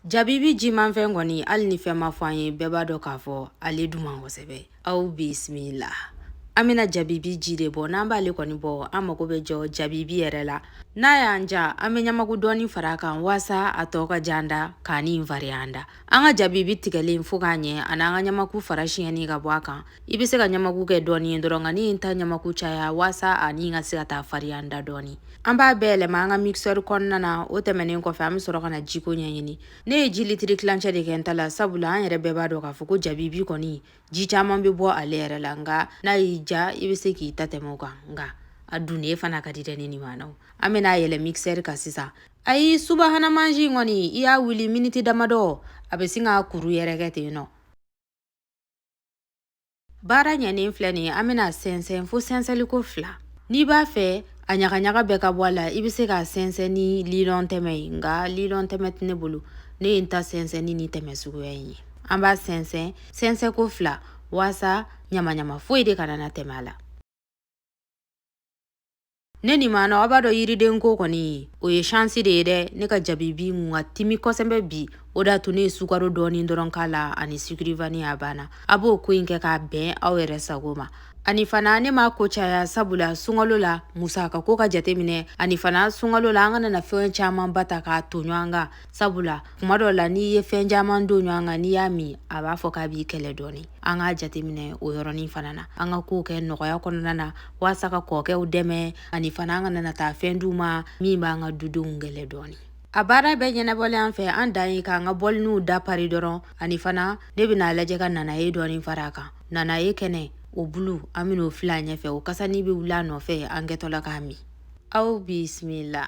Jabibi jimanfɛn kɔni hali ni fɛn ma fɔ an ye bɛɛ b'a dɔn k'a fɔ ale duman kosɛbɛ aw bisimila an bɛna jabibi ji de bɔ n'an b'ale kɔni bɔ an mago bɛ jɔ jabibi yɛrɛ la n'a y'an ja an bɛ ɲamaku dɔɔni fara a kan waasa a tɔ ka j'an da k'a ni farinya an da an ka jabibi tigɛlen fo k'a ɲɛ ani an ka ɲamaku fara siɲɛnen ka bɔ a kan i bɛ se ka ɲamaku kɛ dɔɔni ye dɔrɔn nka ne ye n ta ɲamaku caya waasa ani ka se ka taa fariya n da dɔɔni an b'a bɛɛ yɛlɛma an ka mixeur kɔnɔna na o tɛmɛnen kɔfɛ an bɛ sɔrɔ ka na jiko ɲɛɲini ne ye ji litiri tilancɛ de kɛ n ta la sabula an yɛrɛ bɛɛ b'a dɔn k'a fɔ ko jabibi kɔni ji caman bɛ bɔ ale yɛrɛ la nka n'a y'i ja i bɛ se k'i ta tɛmɛ o kan nka a dunnen fana ka di dɛ ne ni maanaw an bɛna a yɛlɛ mixeur kan sisan ayi subahana mansin kɔni i y'a wuli miniti damadɔ a bɛ sin k'a kuru yɛrɛkɛ ten nɔ baara ɲɛnen filɛ nin ye an bɛn'a sɛnsɛn fo sɛnsɛnliko fila n'i b'a fɛ a ɲagaɲaga bɛɛ ka bɔ a la i bɛ se k'a sɛnsɛn ni lilɔn tɛmɛ ye nka lilɔn tɛmɛ tɛ ne bolo ne ye n ta sɛnsɛn ni nin tɛmɛ suguya in ye an b'a sɛnsɛn sɛnsɛnko fila waasa ɲamaɲama foyi de kana na tɛmɛ a la ne ni maana aw b'a dɔn yiriden ko kɔni o ye shansi de ye dɛ ne ka jabibi tun ka timi kosɛbɛ bi o d'a to ne ye sukaro dɔɔni dɔrɔn k'a la ani sucre vanille a banna aw b'o ko in kɛ k'a bɛn aw yɛrɛ sago ma ani fana ne m'a ko caya sabula sunkalo la musaka ko ka jate minɛ ani fana sunkalo la an kana na fɛn caman ba ta k'a ton ɲɔgɔn kan sabula kuma dɔ la n'i ye fɛn caman don ɲɔgɔn kan n'i y'a min a b'a fɔ k'a b'i kɛlɛ dɔɔni an k'a jateminɛ o yɔrɔnin fana na an ka kow kɛ nɔgɔya kɔnɔna na waasa ka kɔɔkɛw dɛmɛ ani fana an kana na taa fɛn d'u ma min b'an ka dudenw kɛlɛ dɔɔni a baara bɛɛ ɲɛnabɔlen an fɛ an dan ye k'an ka bɔliniw da pari dɔrɔn ani fana ne bɛna a lajɛ ka nanaye dɔɔni fara a kan nanaye kɛnɛ o bulu an bɛn'o fili a ɲɛfɛ o kasani bɛ wuli a nɔfɛ an kɛtɔla k'a min aw bisimila